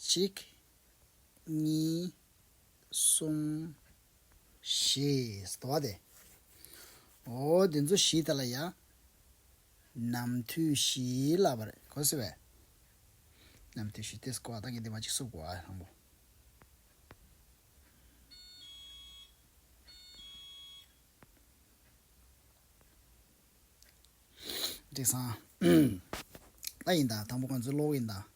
གཅིག། གཉིས། གསུམ། བཞི། ཟླ་བ་སྟེ། ཨོ། འདི་ཚོ་བཞི་དེ་ལ་ཡང། ནམ་དུས་བཞི་ལབ་པ་རེད་གོ་ཟེར་བས། ནམ་དུས་བཞི་དེས་གོ་བ་དང་གི་དེ་མ་ཅིག་སུ་གོ་བ་དང་པོ། དྲི་བཟང། ལྟ་ཡིན་དང་དང་པོ་ཁོང་ཚོའི་གློག་ཡིན་དང།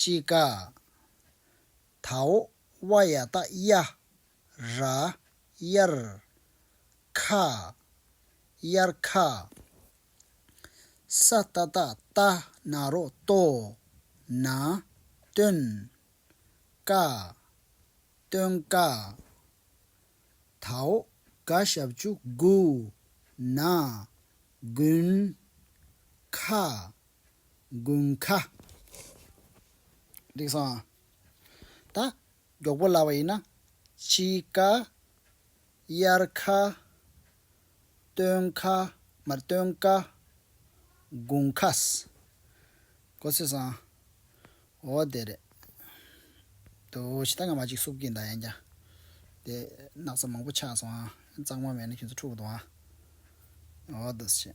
ཅི་ཀ། དཱོ། བ་ཡ་ཏཱ་ཡ། ར། ཡར། ཁ། ཡར་ཁ། ས་ཏྭ་ཏཱ་ཏ་ན་རོ་ཏོ། ན། ཏོན། ཀ། ཏོན་ཀ། དྭོགས་དགའ་ཞབས་བཅུ་དགུ། ན། དགུན། ཁ། དགུན་ཁ། རིག་སོང། ད། མགྱོགས་པོ་ལ་བ་ཡིན་ན། དཔྱིད་ཀ། དབྱར་ཁ། སྟོན་ཁ། མར་སྟོན་དཀའ། དགུང་ཁ། ཀོ་སི་སང། འོ་དེ་རེད། དོ་ཞེ་ད་ག་མ་ཅིག་སུབ་ཀིན་ད་ཡང་ཀྱང། དེ་སྣག་ཚ་མང་པོ་ཆགས་སོང་ཨ། གཙང་མ་མེད་ན་ཁྱོད་ཚོ་འཁྲུག་འདུག་ཨ། འོ་དོ་ཞེ།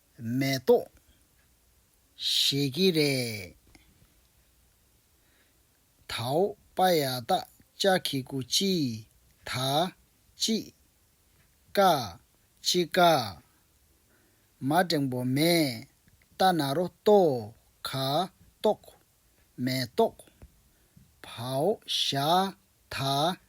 མེ་ཏོག་བཞད་ཀྱི་རེད། དྭོགས་པ་ཡ་ད་ཅ་ཁི་ཀུ་ཅི་ད་ཅི་ཀ་ཅི་ཀ། མ་འགྲེང་པོ་མེ་ཏ་ན་རོ་ཏོ་ཁ་ཏོག་མེ་ཏོག་བྷའོ་ཤ་ད་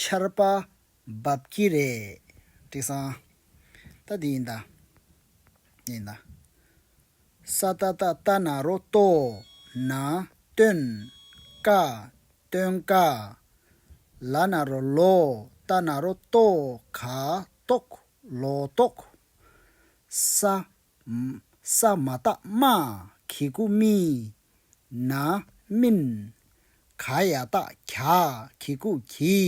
ཆར་པ་འབབ་ཀྱི་རེད། དྲི་བཟང། ད་འདི་ཡིན་ད། འདི་ཡིན་ད། ས་ཏ་ཏ་ཏ་ན་རོ་ལྟོ་ན་སྟོན་ཀ་སྟོན་ཀ། ལ་ན་རོ་ལོ་ཏ་ན་རོ་ལྟོ་ག་ལྟོག་ལོ་ལྟོག། ས་ས་མ་ཏཱ་མ་གྷི་སྐུ་སྨིན། ན་སྨིན། ག་ཡ་ཏཱ་གྱ་གྷི་སྐུ་གྱི།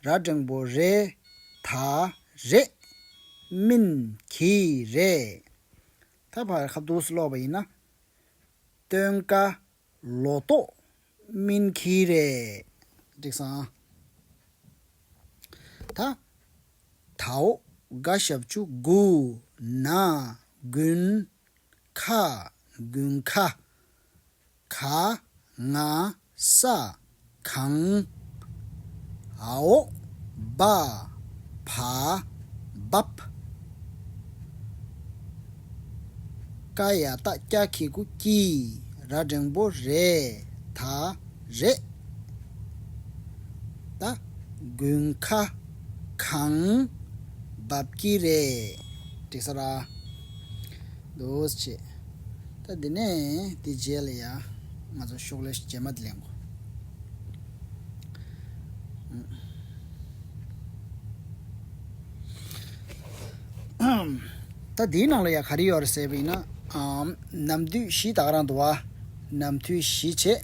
ར་སྒྲེང་པོ་རེ་ད་རེ། སྨིན་གྱི་རེ། ད་བར་ཁ་བསྡུར་སུ་ལོག་པ་ཡིན་ན། སྟོན་ཀ་ལོ་ཏོག་སྨིན་གྱིས་རེད། འགྲིག་སང། ད། དྭོགས་དགའ་ཞབས་བཅུ་དགུ། ན། དགུན། ཁ། དགུན་ཁ། ག། ང། ས། གང། ཨའོ། སྦ། བ། འབབ། ཀ། ཡ། ཏཱ། སྐྱ། ཁི། ཀུ། ཀྱི། ར། འགྲེང་བོ། རེ། ད། རེ། ད། དགུན། ཁ། གང། འབབ། ཀྱི། རེ། དྲི། ས། ར། འདུག་ཅེས། ད་འདི་ནས་འདི་བརྗེད་ལ་ཡ། ང་ཚོ་ཤོག་ལེ་བརྗེས་མ་དེ་ལེན་གོ། ད་འདིའི་ནང་ལ་ཡ་ག་རེ་ཡོད་རེད་ཟེར་བ་ཡིན་ན། ནམ་དུས་བཞི་དག་རང་དུ་བ། ནམ་དུས་བཞི་བྱེད།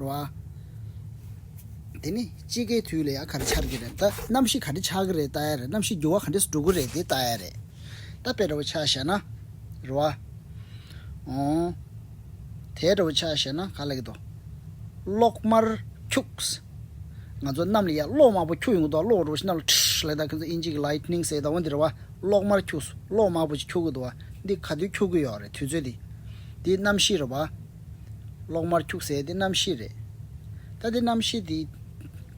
རོ། དེ་ནི་དཔྱིད་ཀའི་དུས་ལ་ཡང་ག་རེ་འཆར་གྱི་རེད་ད། གནམ་གཤིས་ག་འདྲ་ཆགས་ཀྱི་རེད་བལྟ་ཡ་རེད་གནམ་གཤིས་འགྱུར་བ་ག་འདྲས་སུ་འགྲོ་གི་རེད་དེ་བལྟ་ཡ་རེད། ད་དཔེ་འདྲ་བོ་ཆགས་ཤག་ན། རོ། འོང། དེ་འདྲ་བོ་ཆགས་ཤག་ན་ག་ལ་གི་དོ། གློག་དམར་འཁྱུགས། ང་ཚོ་གནམ་ལ་ཡར་གློག་དམར་པོ་འཁྱུགས་ཡོང་གི་འདུག་གློག་འགྲོ་བ་ཞིག་གནམ་ལ་ཁྲིས་ལེགས་ད་ཁྱོད་ཚོ་ཨིན་ཇི་གི Lightning ཟེར་གདའ་བ་འདི་རེད་བ། གློག་དམར་འཁྱུགས་སོ་གློག་དམར་པོ་ཅིག་འཁྱུགས་གི་འདུག་བ། འདི་ག་དུས་འཁྱུགས་གི་ཡོད་རེད་དུས་ཚོད་འདི། འདི་གནམ་གཤིས་རེད་བ། གློག་དམར་འཁྱུགས་ཟེར་དེ་གནམ་གཤིས་རེད། ད་དེ་གནམ་གཤིས་དེ་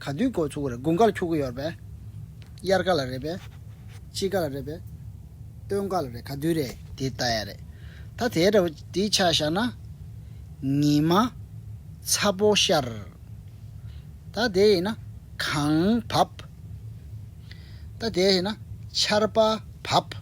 ག་དུས་འགོ་ཚུགས་ཀྱི་རེད་དགུན་ཁར་འཁྱུག་གི་ཡོད་རེད་པས། དབྱར་ཁ་ལ་རེད་པས། དཔྱིད་ཀ་ལ་རེད་པས། སྟོན་ཁ་ལ་རེད་ག་དུས་རེད་དེ་ལྟ་ཡ་རེད། ད་དེའི་འདྲ་བོ་དེ་ཆ་བཞག་ན། ཉི་མ། ཚ་པོ་ཤར། ད་དེ་ཡིན་ན། གངས་བབས། ད་དེ་ཡིན་ན། ཆར་པ་བབས།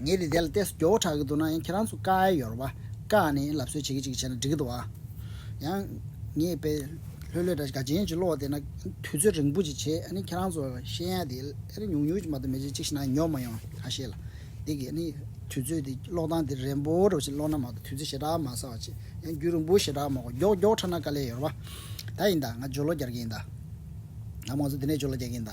ངས་ནི་དེ་ལ་ལྟས་སུ་སྐྱོ་བོ་གྲགས་ཀྱི་འདུག་ན་ཡང་ཁྱེད་རང་ཚོ་དཀའ་ཡ་ཡོར་བ་དཀའ་ནས་ལབ་གསོལ་བྱེད་ཀྱི་ཅིག་བྱས་ན་འགྲིག་གི་འདུག་ཨ། ཡང། ངས་དཔེ། ལྷོད་ལྷོད་འདྲ་ག་ཅན་ཅིག་ཀློག་བསྡད་ན་དུས་ཚོད་རིང་པོ་ཅིག་བྱས་ཨ་ནི་ཁྱེད་རང་ཚོ་ཤེས་ཡ་དེ་ཨ་རེ་ཉུག་ཉུག་ཅིག་མ་གཏོགས་མི་བྱེད་ཅིག་ཤི་ན་ཉོག་མ་ཡོང་ཨ་ཤེས་ལ། འདི་གི་ཨ་ནི་དུས་ཚོད་དེ་ཀློག་སྟངས་དེ་རན་པོ་འདྲ་བོ་ཅིག་ཀློག་ན་མ་གཏོགས་དུས་ཚོད་ཞེ་དྲག་མ་ཟ་བ་ཅིག་ཡང་རྒྱུན་རིང་པོ་ཞེ་དྲག་མ་གོ་མགྱོགས་མགྱོགས་འཕྲད་ན་དཀའ་ལས་ཡོར་བ་ད་ཡིན་ད་ང་ཇོ་ལོ་རྒྱར་གྱི་ཡིན་ད། ང་མང་ཚོ་འདི་ནས་ཇོ་ལོ་རྒྱག་གི་ཡིན་ད།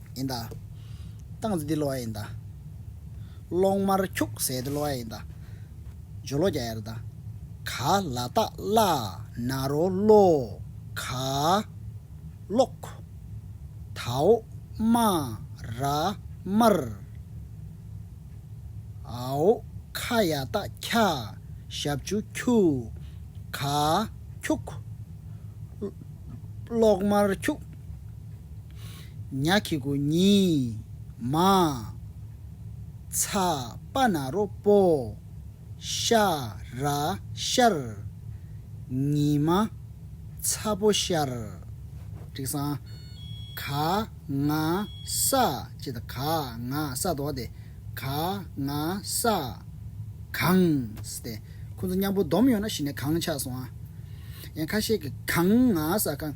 ཡིན་ད། སྟངས་འཛིན་དེ་གློ་བ་ཡིན་ད། གློག་དམར་འཁྱུག་ཟས་དེ་གློ་བ་ཡིན་ད། ཇོ་ལོ་རྒྱ་ཡར་ད། ག་ལ་རྟགས་བླ་ན་རོ་གློ། ག། གློག། དྭོགས། དམའ། ར། དམར། ཨའོ། ཁ་ཡ་རྟགས་ཁྱ། ཞབས་ཆུ་ཁྱུ། ག། འཁྱུག། གློག་དམར་འཁྱུག། ཉག་གི་གུ་ཉི། མ། ཚ། པ་ན་རོ་པོ། ཤ། ར། ཤར། ཉི་མ། ཚ་པོ་ཤར། དྲིག་སང། ག། ང། ས། ཅེས་དང་ག། ང། ས། དོ། སྟེ། ག། ང། ས། གང། སྟེ། ཁོ་ཚོ་མཉམ་པོ་སྡོམ་ཡོང་ན་གཞི་ནས་གང་ཆགས་སོང་ཨ། ཡང་ཁ་ཤས་ཀྱིས་གང། ང། ས། གང།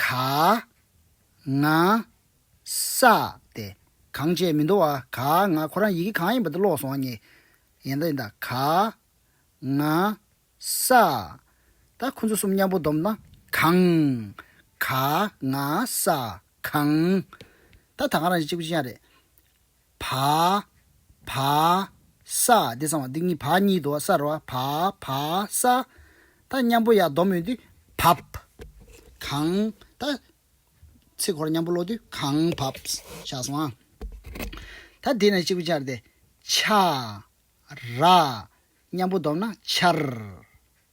ག། ང། ས། སྟེ། གང་བྱས་མི་འདོར་བ་ག། ང། ཁོ་རང་ཡི་གེ་གང་ཡིན་པ་དེ་ཀློག་སོང་བ་ངས། ཡན་ད་ཡིན་ད། ག། ང། ས། ད་ཁོ་ཚོ་གསུམ་མཉམ་པོ་བསྡོམས་ན། གང། ག། ང། ས། གང། ད་ད་གང་རང་བཞིན་གཅིག་པོ་ཅི་ཡང་རེད། བ། བ། ས། འདི་གསང་བ་འདི་གཉིས་བ་གཉིས་དོ་ས་ར་བ། བ། བ། ས། ད་མཉམ་པོ་ཡང་སྡོམ་ཡོད་དུས་བབ། གང། ད། ཚེ་འཁོར་མཉམ་པོ་ཀློག་དུས་གང་བབ། ཤ་སོང་ཨ། ད་དེ་ནས་གཅིག་པུ་སྦྱར་ཏེ། ཆ། ར། མཉམ་པོ་སྡོམ་ན་ཆར།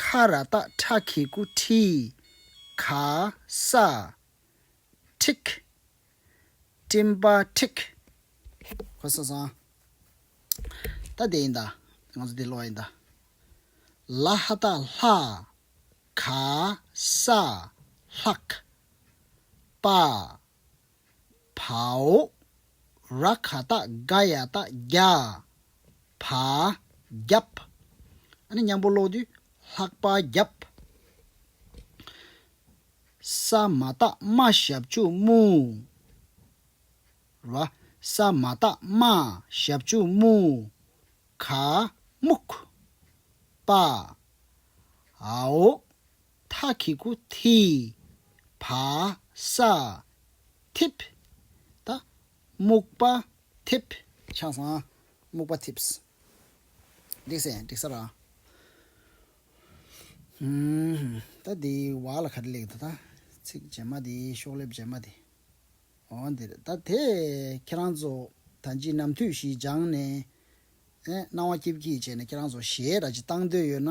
ཁ་ར་སྟག་ཁྲ་གི་སྐུ་ཁྲི་ག་ས་ཁྲིག། སྤྲིན་པ་ཁྲིག། ཧོ་ས་སང། ད་དེ་ཡིན་ད། ང་ཚོ་དེ་ལོག་ཡིན་ད། ལ་ཧ་སྟག་ལྷ། ག་ས་ལྷག། པ། བྷཱུ། ར་གྷ་ཏ྄་དགའ་ཡ་ཏ྄་རྒྱ། བྷ། རྒྱབ། ཨ་ནི་མཉམ་པོ་ཀློག་དུས་ལྷག་པ་རྒྱབ། ས་མ་ཏ྄་རྨ་ཞབས་ཕྱུག་རྨུ། ར། ས་མ་ཏ྄་རྨ་ཞབས་ཕྱུག་རྨུ། གྷ། རྨུག། པ྄། ཨའོ། མཐའ་གི་སྐུ་དྷི། བ་ས། ཐིབས། ད། སྨུག་པ། ཐིབས། ཆང་ས། སྨུག་པ་ཐིབས། འགྲིག་སེ་འགྲིག་ས་ར། ད་འདི་བ་ལ་ག་རེ་ལེགས་འདུག་ད། ཚིག་རྗེས་མ་དེ་ཤོག་ལེབ་རྗེས་མ་དེ། འོ་འདིར་ད་དེ་ཁྱེད་རང་ཚོ་ད་ཅི་ནམ་དུས་ཤིག་སྦྱངས་ནས། སྣང་བ་སྐྱིབ་ཀྱིས་བྱས་ནས་ཁྱེད་རང་ཚོ་གཞས་ར་ཅིག་བཏང་འདོད་ཡོད་ན།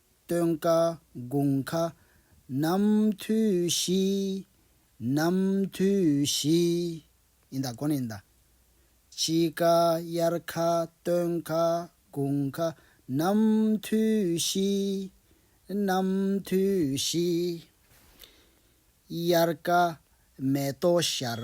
སྟོན་ཀ་དགུང་ཁ་ནམ་དུས་བཞི། ནམ་དུས་བཞི། ཡིན་ད་གོ་ནི་ཡིན་ད། དཔྱིད་ཀ་དབྱར་ཁ་སྟོན་ཁ་དགུང་ཁ་ནམ་དུས་བཞི། ནམ་དུས་བཞི། དབྱར་ཀ་མེ་ཏོག་ཤར།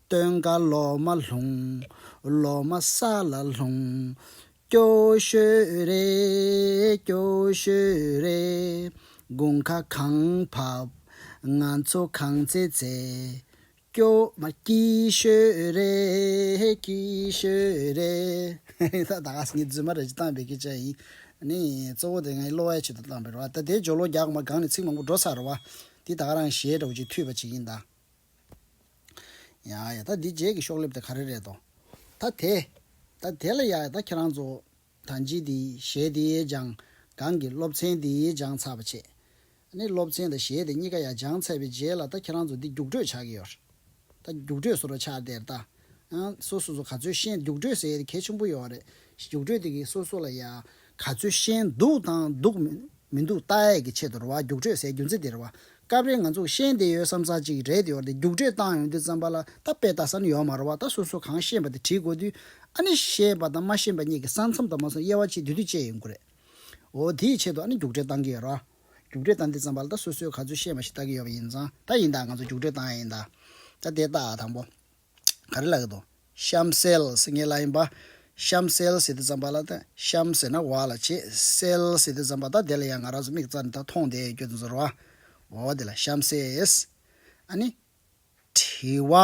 སྟོན་ཀ་ལོ་མ་ལྷུང། ལོ་མ་ས་ལ་ལྷུང། སྐྱོ་ཤོས་རེད། སྐྱོ་ཤོས་རེད། དགུང་ཁ་གང་བབས། ང་ཚོ་གང་ཚེ་ཚེ། སྐྱོ། མ་སྐྱིད་ཤོས་རེད། སྐྱིད་ཤོས་རེད། ད་ག་ཟེ་ངའི་རྫུན་མ་རེད་ཅེས་བཏང་པའི་སྐད་ཆ་ཡིན། ནི། གཙོ་བོ་དེ་ངའི་གློ་བའི་ཆེད་དུ་བཏང་པའི་རེད་བ། ད་དེའི་སྦྱོར་ལོ་རྒྱག་གོ་མ་གང་ནས་ཚིག་མང་པོ་འགྲོ་ཚར་རེད་བ། འདི་ད་ག་རང་ཞེས་འདྲ་བོ་ཅིག་ཐུས་པ་ཅིག་ཡིན་ད། ཡཱ་ཡཱ་ད་འདི་རྗེས་ཀྱི་ཤོག་ལེབ་དེ་ག་རེ་རེད་དོ། ད་དེ། ད་དེ་ལ་ཡཱ་ཡཱ་ད་ཁྱེད་རང་ཚོ། ད་འཇིག་དེའི་གཞས་དེའི་སྦྱང། གང་གི་སློབ་ཚན་དེའི་སྦྱང་ཚར་བ་ཆེད། ནི་སློབ་ཚན་དང་གཞས་དེ་གཉིས་ཀ་ཡཱ་སྦྱང་ཚར་བའི་རྗེས་ལ་ད་ཁྱེད་རང་ཚོ་འདི་རྒྱུགས་སྤྲོད་བྱ་གི་ཡོད། ད་རྒྱུགས་སྤྲོད་ཟུར་བ་ཆགས་དེར་ད། སོ་སོ་སོ་ག་ཚོད་ཤེས་འདུག་སྤྲོད་ཟེར་གལ་ཆེན་པོ་ཡོད་རེད་རྒྱུགས་སྤྲོད་དེ་གི་སོ་སོ་ལ་ཡ། ག་ཚོད་ཤེས་འདུག་དང་འདུག་མི་འདུག་ལྟ་ཡས་ཀྱི་ཆེད་དུ་རེད་བ་རྒྱུགས་སྤྲོད་ཟེར་རྒྱུ་མཚན་དེ་རེད་བ། སྐབས་རེ་ང་ཚོ་ཤེས་བསྡད་ཡོད་བསམ་ས་ཅིག་རེད་ཡོད་རེད་རྒྱུགས་སྤྲོད་བཏང་ཡོང་དུས་བརྩམས་པ་ལ་ད་དཔེ་ལྟ་ས་ནི་ཡོད་མ་རེད་བ་ད་སོ་སོ་གང་ཤེས་པ་དེ་བྲིས་དགོས་དུས་ཨ་ནི་ཤེས་པ་དང་མ་ཤེས་པ་གཉིས་ཀྱི་ས་མཚམས་དུ་མ་སོང་དབྱེ་བ་ཕྱེ་དུས་དུས་བཅད་ཡོད་དགོས་རེད་འོ་དེ་ཡི་ཆེད་དུ་ཨ་ནི་རྒྱུགས་སྤྲོད་བཏང་གི་ཡོད་རེད་བ། རྒྱུགས་སྤྲོད་བཏང་དུས་བརྩམས་པ་ལ་ད་སོ་སོས་ག་ཚོད་ཤེས་པ་ཞིག་ལྟ་གི་ཡོད་པ་ཡིན་ཙང་ད་ཡིན་དང་ང་ཚོ་རྒྱུགས་སྤྲོད་བཏང་ཡ་ཡིན་དང། ད་དེ་ལྟ་དང་པོ། ག་རེ་ལ་ཡོད་དོ། གཤམ་གསལ་ཟེར་ངེས་ལ་ཡིན་པ། གཤམ་གསལ་ཟེར་དུ་བརྩམས་པ་ལ་དང་གཤམ་ཟེར་ན་བ་ལ་བྱེད། གསལ་ཟེར་དུ་བརྩམས་པ་དང་དེ་ལ་ཡང་ང་རང་ཚོ་མིག་རྩ་འདི་དག་མཐོང་སྟེ་ཀྱོ་ཙུན་ཟེར་རོ། འོ་དེ་ལ་གཤམ་གསལ། ཨ་ནི། བྲི་བ།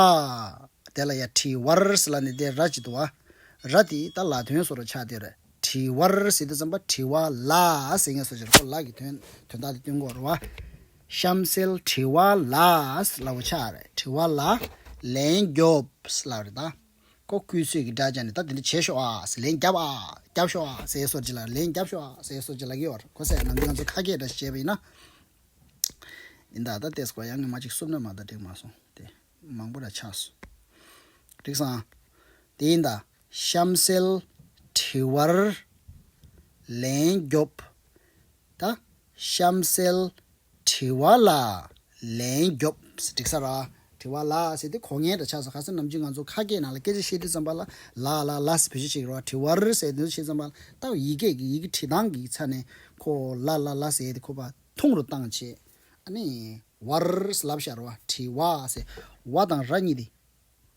དེ་ལ་ཡང་བྲི་བར་ཟེར་ལ་ནི་དེ་ར་ཅིག་ཏུ་བ། ར་དེ་ཡིས་ད་ལ་དོན་སོགས་རུ་ཆགས་ཏེ་ར། བྲི་བར་ཟེར་དུ་བརྩམས་པ་བྲི་བ་ལ་ཟེར་ངེས་སོ་ཅེ་ར་ཀོ་ལ་གི་དོན་དོན་དག་དེ་སྟོན་དགོས་རོ། གཤམ་གསལ་དྲི་བ་ལ་ལ་བ་ཆ་རེ་དྲི་བ་ལ་ལན་རྒྱོབ་ལ་རེ་ད་ཀོ་ཀུས་ཚོད་ཀྱི་སྒྲ་སྦྱར་ནས་ད་འདི་འདྲ་བྱེད་ཤོག་ཨ་ལན་རྒྱབ་ཨ་རྒྱབ་ཤོག་ཨ་ཟེར་སོར་བྱེད་ལ་ལན་རྒྱབ་ཤོག་ཨ་ཟེར་སོར་བྱེད་ལ་གི་བར་ཁོ་སད་ན་འདི་ང་ཚོ་ཁ་སྐད་འདྲ་ཞིག་བྱས་པ་ཡིན་ན་ཡིན་ད་ད་ལྟས་སུ་གོ་ཡང་ངེ་མ་ཅིག་སུབ་ན་མ་ད་འགྲིག་མ་སོང་དེ་མང་པོ་ར་ཆགས་སོ་འགྲིག་སང་དེ་ཡིན་ད། གཤམ་གསལ། དྲི་བར་ལན་རྒྱོབ། ད། གཤམ་གསལ། དྲི་བ་ལ་ལན་རྒྱོབ། འགྲིག་ས་ར། དྲི་བ་ལ་ཟེར་དུས་གོ་ངན་འདྲ་ཆགས་སོང་ག་སེ་ནམ་རྒྱུན་ང་ཚོ་ཁ་སྐད་ནང་ལ་སྐད་ཆ་བཤད་དུས་ཙམ་པ་ལ་ལ་ལ་ལ་ཟེར་བོད་ཆས་ཤིག་རོགས་དྲི་བར་ཟེར་དུས་ཤེས་ཙམ་པ་ལྟ་བུ་ཡིག་སྐད་ཀྱི་ཡི་གེ་བྲིས་སྟངས་ཀྱི་ཆ་ནས་ཁོ་ལ་ལ་ལ་ཟེར་དུས་ཁོ་པ་ཐུང་རུ་བཏང་བྱས་ཨ་ནི། བར་ལབ་ཤར་བ་དྲི་བ་ཟེར་བ་དང་ར་གཉིས་དེ།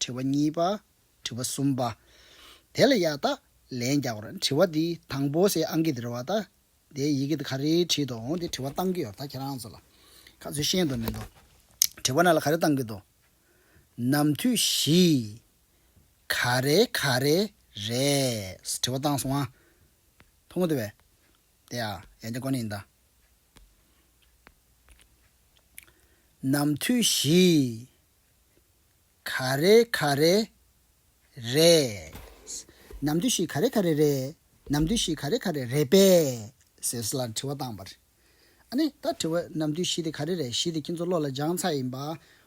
དྲི་བ་གཉིས་པ། དྲི་བ་གསུམ་པ། དེ་ལ་ཡང་དག་ལན་རྒྱག་གོ་རེ། དྲི་བ་འདི་དང་པོ་སའི་ཨང་ཀི་དེ་རེ་བ་ད། དེའི་ཡི་གེ་དེ་ག་རེའི་ཁྲིད་དུ་འོང་དེ་དྲི་བ་གཏང་གི་ཡོ་ད་ཁྱེད་རང་ཚོ་ལ། ག་ཚོད་ཤེས་འདུག་མི་འདུག། དྲི་བ་ན་ལ་ག་རེ་གཏང་གི་འདུག། ནམ་དུས་བཞི། ག་རེ་ག་རེ་རེད། དྲི་བ་གཏང་སོང་ཨ། མཐོང་གི་འདུག་བས། དེ་ཨ་ཡན་ཅན་ཀོ་ནི་ཡིན་ད། ནམ་དུས་བཞི། ག་རེ་ག་རེ་རེད། ནམ་དུས་ཤིག་ག་རེ་ག་རེ་རེད། ནམ་དུས་ཤིག་ག་རེ་ག་རེ་རེད་པས། ཟེར་ལ་དྲི་བ་བཏང་བར། ཨ་ནི་ད་དྲི་བ་ནམ་དུས་ཤིག་དེ་ག་རེ་རེད་ཤིག་དེ་ཁྱེད་ཚོ་བློ་ལ་སྦྱང་ཚར་ཡིན་པ།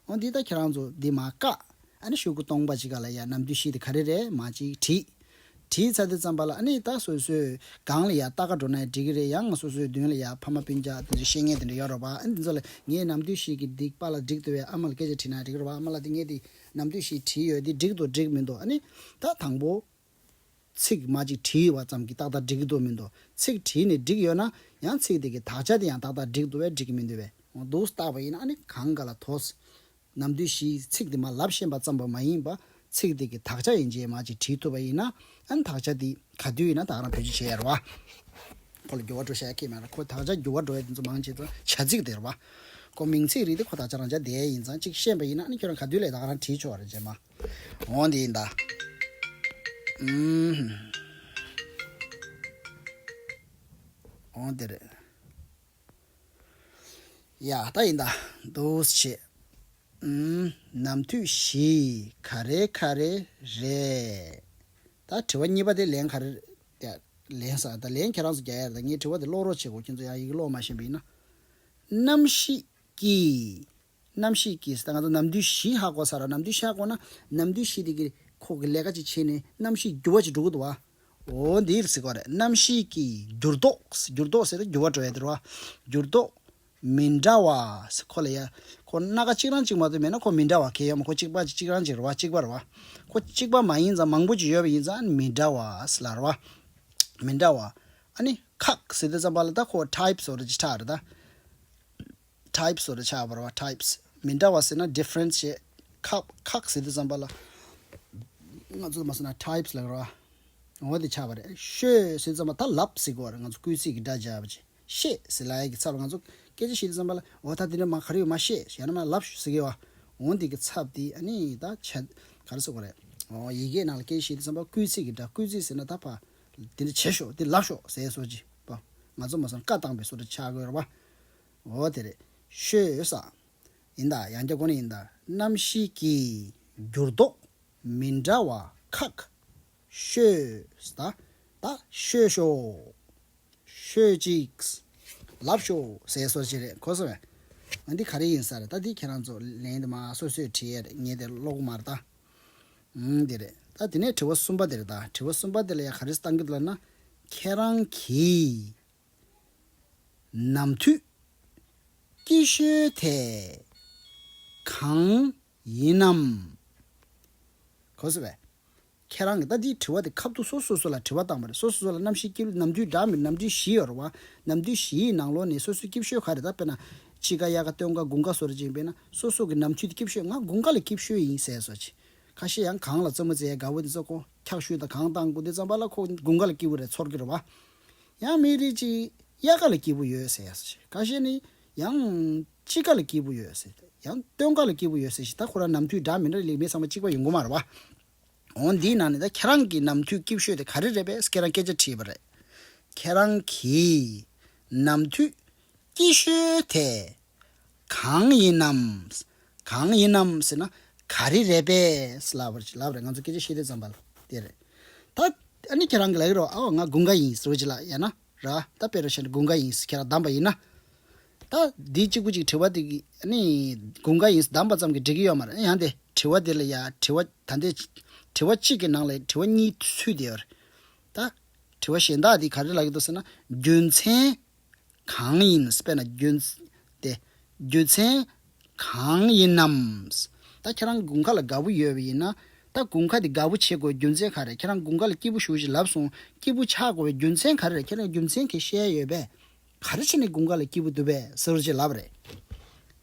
འོ་འདི་ད་ཁྱེད་རང་ཚོ་འདི་མ་བཀག། ཨ་ནི་ཤོག་གུ་སྟོང་པ་ཅིག་ག་ལ་ཡ་ནམ་དུས་ཤིག་དེ་ག་རེ་རེད་མ་ཅིག་དྲིས། བྲིས་ཚར་དུས་བརྩམས་པ་ལ་ཨ་ནི་ད་སོ་སོའི་སྒང་ལ་ཡང་ལྟ་ག་འགྲོ་ན་འགྲིག་གི་རེད་ཡང་ང་སོ་སོའི་མདུན་ལ་ཡང་ཕ་མ་སྤུན་རྒྱག་དེ་འདྲའི་ཤེས་ངན་དེ་འདྲ་ཡོད་རོགས་པ་ཨ་ནི་འདི་ཚོ་ལ་ངས་ནམ་དུས་ཤིག་གི་སྡིག་པ་ལ་འགྲིག་འདོད་པའི་ཨ་མ་ལ་སྐད་ཆ་བྲིས་ན་འགྲིག་རོགས་པ་ཨ་མ་ལགས་འདི་ངས་འདི་ནམ་དུས་ཤིག་བྲིས་ཡོད་འདི་འགྲིག་འདུག་འགྲིག་མི་འདུག་ཨ་ནི་ད་དང་པོ་ཚིག་མ་གཅིག་བྲིས་ཡོད་པ་ཙམ་གྱིས་ཏག་ཏག་འགྲིག་གི་འདུག་མི་འདུག་ཚིག་བྲིས་ནས་འགྲིག་ཡོད་ན་ཡང་ཚིག་དེ་གི་དག་ཆ་དེ་ཡང་ཏག་ཏག་འགྲིག་འདུག་བས་འགྲིག་གི་མི་འདུག་བས་འདུག་སྟག་པ་ཡིན་ན་ཨ་ནི་གང་ག་ལ་དོགས། ནམ་དུས་བཞིའི་ཚིག་དེ་མ་ལབ་ཤེས་པ་ཙམ་པོ་མ་ཡིན་པར་ཚིག་དེ་གི་དག་ཆ་ཡན་ཆད་མ་ཅིག་བྲིས་ཐུབ་པ་ཡིན་ན་ཨན་དག་ཆ་དེ་ག་དུས་ཡིན་ན་དག་ན་བོད་ཆུ་བྱེད་ཡར་བ། ཁོ་ལ་འགྱུར་བ་འགྲོ་ཤ་ཡ་ཁེ་མེད་ལ་ཁོ་དག་ཆ་འགྱུར་བ་འགྲོ་ཡ་དེ་ཚོ་མང་ཆེ་ཚོ་བྱ་ཚིག་དེར་བ། ཁོ་མིང་ཚིག་རིག་དེ་ཁོ་དག་ཆ་རང་ཅག་འདས་ཡིན་ཙང་ཅིག་ཤེས་པ་ཡིན་ན་ཨན་ཁྱོད་རང་ག་དུས་ལས་དག་ན་བྲིས་ཆོག་རེད་ཅེས་མ་འོང་དེ་ཡིན་ད། ཡ་ད་ཡིན་ད་འདུག་བྱས། ནམ་དུས་བཞི་ག་རེ་ག་རེ་རེད། ད་དྲི་བ་གཉིས་པ་དེ་ལན་ག་རེ་རེད། ལན་ས་ད་ལན་ཁྱེད་རང་ཚོ་རྒྱ་ཡར་ད་ངས་དྲི་བ་དེ་ཀློག་རོགས་བྱེད་དགོས་ཁྱོད་ཚོ་ཡང་ཡིག་ཀློག་མ་ཤེས་པ་ཡིན་ན། གནམ་གཤིས་ཀྱིས་རྣམ་ཤེས་ཀྱིས་ཟེར་ན་ང་ཚོ་ནམ་དུས་བཞི་ཧ་གོ་ས་ར་ནམ་དུས་ཤ་གོ་ན་ནམ་དུས་བཞི་དེ་གི་ཁོག་གི་ལས་ཀ་ཅིག་བྱས་ནས་རྣམ་ཤེས་འགྱུར་བ་ཅིག་འགྲོ་གི་འདུག་བ། འོ་འདིར་གཟིགས་པ་རེད་རྣམ་ཤེས་ཀྱི་འགྱུར་ལྡོག་འགྱུར་ལྡོག་ཟེར་ན་འགྱུར་བ་འགྲོ་བའི་འདིར་བ། འགྱུར་ལྡོག་མི་འདྲ་བ་ཁོ་ལ་ཡ། ཁོ་སྣ་ཁ་གཅིག་རང་གཅིག་མ་གཏོད་མེད་ན་ཁོ་མི་འདྲ་བ་གལ་ཡོད་མ་ཁོ་གཅིག་པ་གཅིག་རང་གཅིག་རེད་བ་གཅིག་པ་རེད་བ། ཁོ་གཅིག་པ་མ་ཡིན་ཙང་མང་པོ་ཅིག་ཡོད་པ་ཡིན་ཙང་མི་འདྲ་བ་ལ་རེད་བ། མི་འདྲ་བ། ཨ་ནི་ཁག་ཟེར་དུས་ཙམ་པ་ལ་ད་ཁོ types རེད་ཅེས་ཁྲག་རེད་ད། Types སོགས་ལ་ཆགས་པར་བ Types མི་འདྲ་བ་ཟེར་ན Difference ཞེས་ཁག་ཁག་ཟེར་དུས་བརྩམས་པ་ལ་ང་ཚོས་མ་ཟེར་ན Types ལ་རོ་འོ་དེ་ཆགས་པ་རེད་ཤོད་ཟེར་དུས་བརྩམས་པ་ད་ལབ་ཟེར་དགོས་བ་རེད་ང་ཚོས་སྐུལ་ཚིག་གི་སྒྲ་སྦྱར་བ་ཅི་ཤེས་ཟེར་ལའེ་ཀི་ཚབ་ལ་ང་ཚོས་སྐད་ཆ་ཤེས་དུས་བརྩམས་པ་ལ་འོ་ད་དེ་འདྲ་མ་ག་རེ་ཡོད་མ་ཤེས་ཡང་ན་མ་ལབ་ཟེར་དགོས་བ་འོ་འདི་གི་ཚབ་དེ་ཨ་ནི་ད་ཆ་ག་རེ་ཟེར་དགོས་རེད་འོ་ཡི་གེའི་ནང་ལ་སྐད་ཆ་ཤེས་དུས་བརྩམས་པ་སྐུལ་ཚིག་གི་སྒྲ་སྐུལ་ཚིག་ཟེར་ན་ད་ཕ་དེ་འདྲ་བྱེད་ཤོག་དེ་ལབ་ཤོག་ཟེར་སོགས་ཀྱི་བ་ང་ཚོས་མ་ཟེར་ན་བཀའ་བཏང་པའི་སོགས་ལ་ཆགས་དགོས་བ། འོ་དེར་ཤོས་སམ། ཡིན་དཱ་ཡང་སྐྱབས་ཁོ་ན་ཡིན་དཱ་རྣམ་བཞི་ཀྱི་འགྱུར་ལྡོག་མི་འདྲ་བ་ཁག། ཤོས་དཱ་ད་ཤོས་ཤོག། ཤོས་ཅིག། ལབ་ཤོག་ཟེར་སོ་ཅི་རེད་གོ་སོང་བས། ང་འདི་ག་རེ་ཡིན་ས་རེད་ད་འདི་ཁྱེད་རང་ཚོ་ལན་དུ་མ་སོ་སོས་དྲི་ཡས་རེད་ངས་དེ་ཀློག་གི་མ་རེད་ད། འུང་འདི་རེད་ད་དེ་ནས་དྲི་བ་གསུམ་པ་དེ་རེད་ད་དྲི་བ་གསུམ་པ་དེ་ལ་ཡང་ག་རེ་གཏང་གི་འདུག་ལབ་ན། ཁྱེད་རང་གིས། ནམ་མཐུད་སྐྱིད་ཤོད་དེ་གང་ཡིན་ནམ། གོ་ཟེར་བས། ཁྱེད་རང་གི་ལྟ་འདིའི་དྲི་བ་དེ་ཁབ་ཏུ་སོ་སོ་སོ་ལ་དྲི་བ་བཏང་བ་རེད་སོ་སོ་སོ་ལ་རྣམ་ཤེས་སྐྱིད་ལུགས་ནམ་མཐུད་འདྲ་མིན་ནམ་དུས་བཞི་ཡོར་བ་ནམ་དུས་བཞི་ཡི་ནང་ལོགས་ནས་སོ་སོའི་སྐྱིད་ཤོད་ག་རེ་ད་དཔེར་ན། ཕྱི་ཀ་གཡག་ཀ་སྟོད་ཀ་དགུན་ཀ་སོ་རེ་ཅིག་དཔེར་ན་སོ་སོ་གི་ནམ་མཐུད་དེ་སྐྱིད་ཤོད་ང་དགུན་ཀ་ལ་སྐྱིད་ཤོད་ཡིན་ཟེར་སོ་ཅིག་ཁ་ཤས་ཡང་གང་ལ་བཙོན་མོ་བཙའི་དགའ་བོ་དེ་ཚོ་ཁོ་འཁྱག་ཤུལ་དང་གང་བཏང་དགུ་དེ་བརྩམས་པ་ལ་ཁོ་དགུན་ཀ་ལ་སྐྱིད་བོ་རེད་ཚོར་གྱི་རེད་བ། ཡང་མི་རིགས་གཅིག་དབྱར་ཀ་ལ་སྐྱིད་པོ་ཡོད་ཟེར་ཡག་ཞེས་ཁ་ཤས་ནི་ཡང་དཔྱིད་ཀ་ལ་སྐྱིད་པོ་ཡོད་ཟེར་ཡང་སྟོན་ཀ་ལ་སྐྱིད་པོ་ཡོད་ཟེར་ཞེས་ད་ཁོ་རང་ནམ་དུས་འདྲ་མི་འདྲ་ལས་མི་ཚང་མ་གཅིག་པ་ཡིན་གོ་མ་རེད་བ། འོན་འདིའི་ནང་ནས་ད་ཁྱེད་རང་གི་ནམ་དུས་སྐྱིད་ཤོས་དེ་ག་རེ་རེད་པས་སྐད་རང་སྐད་ཆ་དྲིས་པ་རེད། ཁྱེད་རང་གིས་ནམ་དུས་སྐྱིད་ཤོས་དེ། གང་ཡིན་ནམ། གང་ཡིན་ནམ་ཟེར་ན། ག་རེ་རེད་པས། ལབ་རེད་ལབ་རེད་ང་ཚོ་སྐད་ཆ་བཤད་དུས་ཙམ་པ་དེ་རེད། ད་ཨ་ནི་ཁྱེད་རང་གིས་ལ་ཡིན་རོགས་ཨ་འོ་ང་དགུན་ཁ་ཡིན་ཟེར་བ་ཅི་ལགས་ཡ་ན་ར་ད་དཔེ་རུ་བྱས་ན་དགུན་ཁ་ཡིན་ཁྱེད་རང་གདམས་པ་ཡིན་ན། ད་འདི་གཅིག་པུ་ཅིག་དྲི་བ་དེ་ཨ་ནི་དགུན་ཁ་ཡིན་གདམས་པ་ཙམ་གྱིས་འགྲིག་གི་ཡོད་མ་རེད་ཡང་དེ་དྲི་བ་དེ་ལ་ཡ་དྲི་བ་ད་ལྟའི་དྲི་བ་གཅིག་གི་ནང་ལ་དྲི་བ་གཉིས་ཚུད་དེ་ཡོད་རེད། ད་དྲི་བ་གཞན་དག་དེ་ག་རེ་ལགས་ཀྱི་འདུག་ཟེར་ན་རྒྱུ་མཚན་གང་ཡིན་དཔེར་ན་རྒྱུ་དེ། རྒྱུ་མཚན་གང་ཡིན་ནམ། ད་ཁྱེད་རང་དགུན་ཁ་ལ་དགའ་བོ་ཡོད་པ་ཡིན་ན། ད་དགུན་ཁ་དེ་དགའ་བོ་བྱེད་དགོས་རྒྱུ་མཚན་ག་རེད་ཁྱེད་རང་དགུན་ཁ་ལ་སྐྱིད་པོ་བཞུགས་ཤིག་ལབ་སོང་སྐྱིད་པོ་ཆགས་དགོས་པའི་རྒྱུ་མཚན་ག་རེད་ཁྱེད་རང་རྒྱུ་མཚན་ག་ཤེད་ཡོད་པས། ག་རེ་བྱས་ནས་དགུན་ཁ་ལ་སྐྱིད་པོ་འདུག་པས་ཟེར་བ་ཅིག་ལབ་རེད།